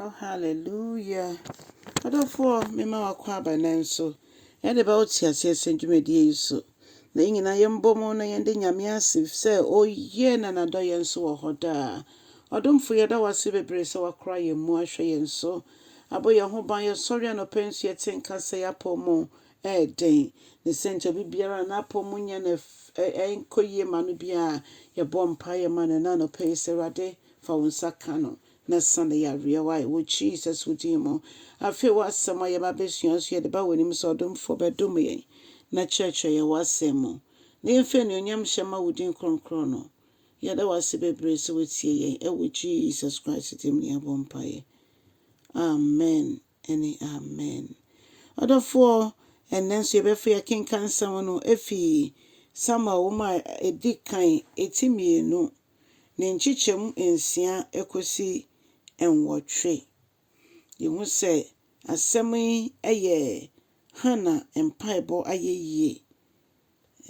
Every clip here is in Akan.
Oh hallelujah Adɔfoɔ mema wakɔ aba nan so Yɛde ba wo teaseɛ sɛ dwumadie yi so Na yɛn nyinaa yɛn bɔ mu na yɛn de Nyame ase Sɛ ɔyɛ na nadɔ yɛn nso wɔ hɔ daa Ɔdomfo yɛda wase bebree sɛ wakora yɛn mu ahwɛ yɛn so Abɔ yɛn ho ban yɛ sɔre anɔpa nso yɛ te nka sɛ y'apɔw mu ɛɛden Ne sɛ nti obi biara a n'apɔw mu nyɛ no ɛnkɔ yie ma no biara Yɛbɔ mpaeɛ ma no ɛna anɔpa yi sɛ Awurade fa wo nsa ka no na sa ne yareɛ wae wɔ Jesus wo din mu. Afei w'asɛm a yɛba bɛsua nso yɛde ba w'anim sɛ ɔdomfoɔ bɛdom yɛn na kyerɛkyerɛ yɛn w'asɛm mu na yɛmfa anuonyamhyɛ mma wo din kronkron no. Yɛda wo ase bebree sɛ woatie yɛn wɔ Jesus Christ din mu ne yɛbɔ mpaeɛ. Amen ne Amen. Ɔdɔfoɔ, ɛnnɛ nso yɛbɛfa yɛkenkan nsɛm no ɛfiri Samuel nwoma a ɛdi kan, ɛti mmienu ne nkyekyɛm nsia kosi nwɔtwe. Yehu sɛ asɛm yi yɛ Hana mpaebɔ ayɛyie,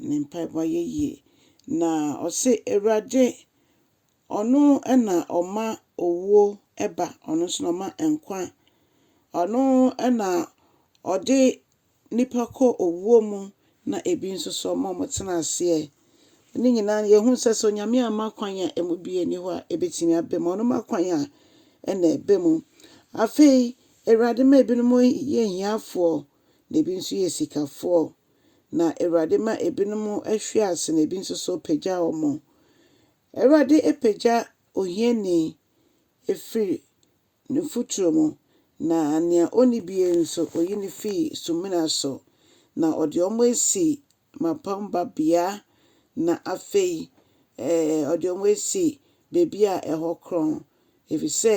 ne mpaebɔ ayɛyie. Na ɔse Awurade ɔno na ɔma owuo ba, ɔno nso na ɔma nkwa, ɔno na ɔde nnipa kɔ owuo mu na ebi nso so ɔma wɔtena aseɛ. Ne nyinaa no yɛhunu sɛ sɛ Onyame amma kwan a ɛmu biara nni hɔ a ɛbɛtumi aba mu. Ɔno ma kwan a ɛna ɛba mu. Afei Awurade ma ebinom yɛ ahiafoɔ na ebi nso yɛ sikafoɔ. Na Awurade ma ebinom hwe ase na ebi nso so pagya wɔn. Awurade pagya ohiani firi Ne mfuturo mu, na nea ɔnni bie nso, ɔyi no firi sumina so, na ɔde wɔn asi mmapɔmma babea, na afei ɛɛ ɔde wɔn asi baabi a ɛhɔ korɔn, ɛfiri sɛ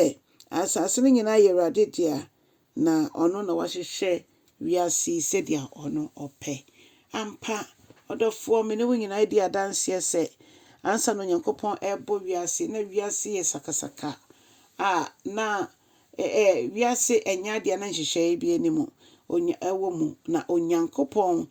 asase no nyinaa yɛ Awurade dea, na ɔno na wahyehyɛ Wiase yi sɛdeɛ ɔno ɔpɛ. Ampa, ɔdɔfoɔ, me ne wo nyinaa di adanseɛ sɛ, ansa na Onyankopɔn rebɔ wiase yi, na wiase yɛ sakasaka a, na ɛ, ɛ, wiase nyɛ adeɛ a na nhyehyɛeɛ bi anim Onya, wɔ mu. Na Onyankopɔn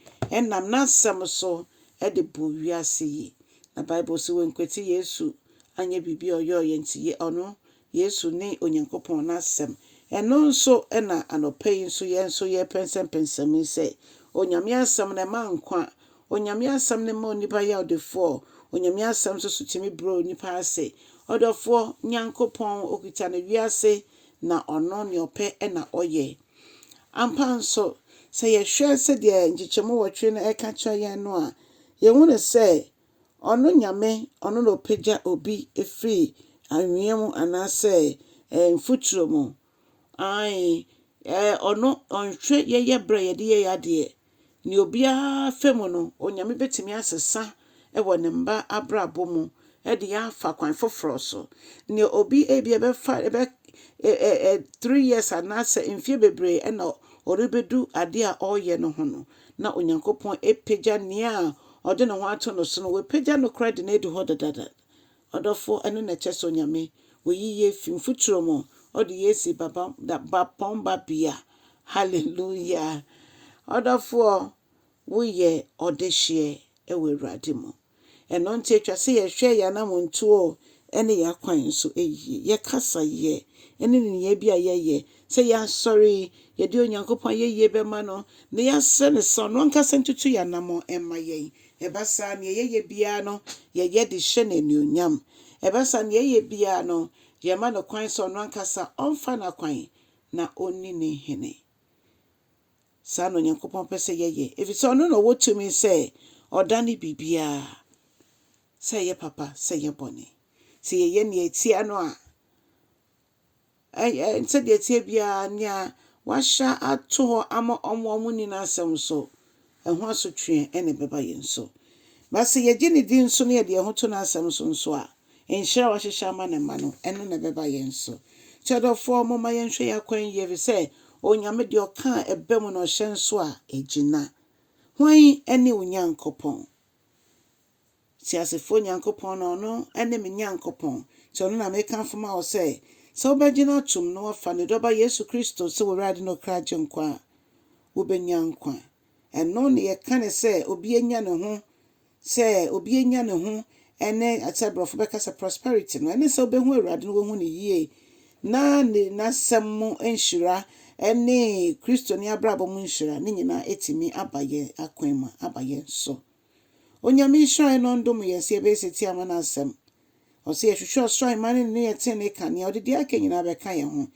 nam N'Asɛm so de bɔɔ wiase yi. Na Bible se, Wankwati Yesu anyɛ biribi a ɔyɔeɛ nti, yɛ, ɔno Yesu ne Onyankopɔn n'Asɛm. Ɛno nso na anɔpa yi nso yɛn nso yɛrepɛnsɛmpɛnsɛm yi sɛ, Onyame Asɛm no ɛma nkwa, Onyame Asɛm no ma onipa yɛ ɔdefoɔ, Onyame Asɛm nso so tumi brɛ onipa ase. Ɔdɔfoɔ, Nyankopɔn, ɔkita no wiase na ɔno nea ɔpɛ na ɔyɛ. Ampa nso, sɛ yɛhwɛ sɛdeɛ nkyekyɛmu nwɔtwe no ɛka kyerɛ yɛn no a, yɛhunu sɛ Ɔno Nyame, Ɔno na Ɔpagya obi firi anwea mu anaasɛ eh, mfuturo mu. Ae, eh, Ɔno, Ɔnhwɛ yɛyɛ berɛ a yɛde yɛ yɛ adeɛ. Nea obiara fɛ mu no, Onyame bɛtumi asesa wɔ ne mma abrabɔ mu de yɛn afa kwan foforɔ so. Nea obi ebi ɛbɛfa ɛbɛ eh, eh, eh, three years anaasɛ mfie bebree ɛna ɔrebɛdu adeɛ a ɔreyɛ no ho no, na Onyankopɔn apagya nea ɔde ne ho ato no so no, wapagya no koraa de no adu hɔ dedaada. Ɔdɔfo, ɛno na ɛkyerɛ sɛ Onyame oyi yɛn fi mfuturo mu, ɔde yɛn asi bapɔn babea. Hallelujah! Ɔdɔfoɔ, woyɛ ɔdehyeɛ wɔ Awurade mu. Ɛno nti ɛtwa sɛ yɛhwɛ yɛn anammɔntuo ne yɛn akwan nso yie, yɛn kasayɛ ne nneyɛɛ bi a yɛyɛ. Sɛ yɛasɔre, yɛde Onyankopɔn ayɛyie bɛma no na yɛasrɛ no sɛ ɔno ankasa ntutu yɛn anammɔn mma yɛn. Ɛba saa a, deɛ yɛyɛ biara no, yɛyɛ de hyɛ no anuonyam. Ɛba saa a, deɛ yɛyɛ biara no, yɛma no kwan sɛ ɔno ankasa ɔmfa n'akwan na ɔnni ne hene. Saa na Onyankopɔn pɛ sɛ yɛyɛ, efisɛ ɔno na ɔwɔ tumi sɛ ɔdane biribiara, sɛ ɛyɛ papa, sɛ ɛyɛ bɔne. Sɛ yɛyɛ nea ɛteɛ no a, ɛyɛ sɛdeɛ ɛteɛ biara, nea wahyɛ ato hɔ ama wɔn a wɔnni n'asɛm so, ɛho asotweɛ na ɛbɛba yɛn so. Na sɛ yɛgye ne din so na yɛde yɛn ho to n'asɛm so nso a, Nhyira a wahyehyɛ ama ne mma no, ɛno na ɛbɛba yɛn so. Nti ɔdɔfoɔ, momma yɛnhwɛ yɛn akwan yie, ɛfiri sɛ Onyame deɛ ɔka a, ɛba mu, na ɔhyɛ nso a, ɛgyina. Hwan ne wo Nyankopɔn? Teasefoɔ Nyankopɔn no, ɔno ne me Nyankopɔn. Nti ɔno na mekamfo ma wo sɛ, sɛ wobɛgyina atom na woafa ne Dɔba Yesu Kristo sɛ w'Awurade ne wo kra Agyenkwa a, wobɛnya nkwa. Ɛno na yɛka no sɛ obi anya ne ho Sɛ obi anya ne ho ne sɛ brɔfo bɛka sɛ prosperity no, ɛne sɛ wobɛhu Awurade na woahu no yie na ne n'asɛm mu nhyira ne Kristoni abrabɔ mu nhyira ne nyinaa atumi aba yɛn akwan mu aba yɛn so. Onyame nhyira yɛn na ɔndom yɛn sɛ yɛbɛyɛ setie ama n'asɛm. Ɔsɛ yɛhwehwɛ ɔsoro ahemman ne ne ne yɛ tenenee kanea, ɔde deɛ aka nyinaa bɛka yɛn ho.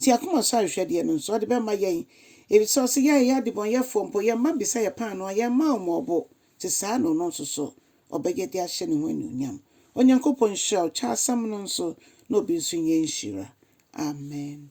Te akoma so ahwehwɛdeɛ no nso ɔde bɛma yɛn, ɛfiri sɛ ɔsɛ yɛn a yɛyɛ adebɔnyɛfoɔ mpo yɛn mma bisa yɛn paanoo a yɛmma wɔn ɔbo, te saa na ɔno nso so ɔbɛyɛ de ahyɛ ne ho anuonyam. Onyankopɔn nhyira wo kyɛ asɛm no nso na obi nso nyɛ nhyira. Amen.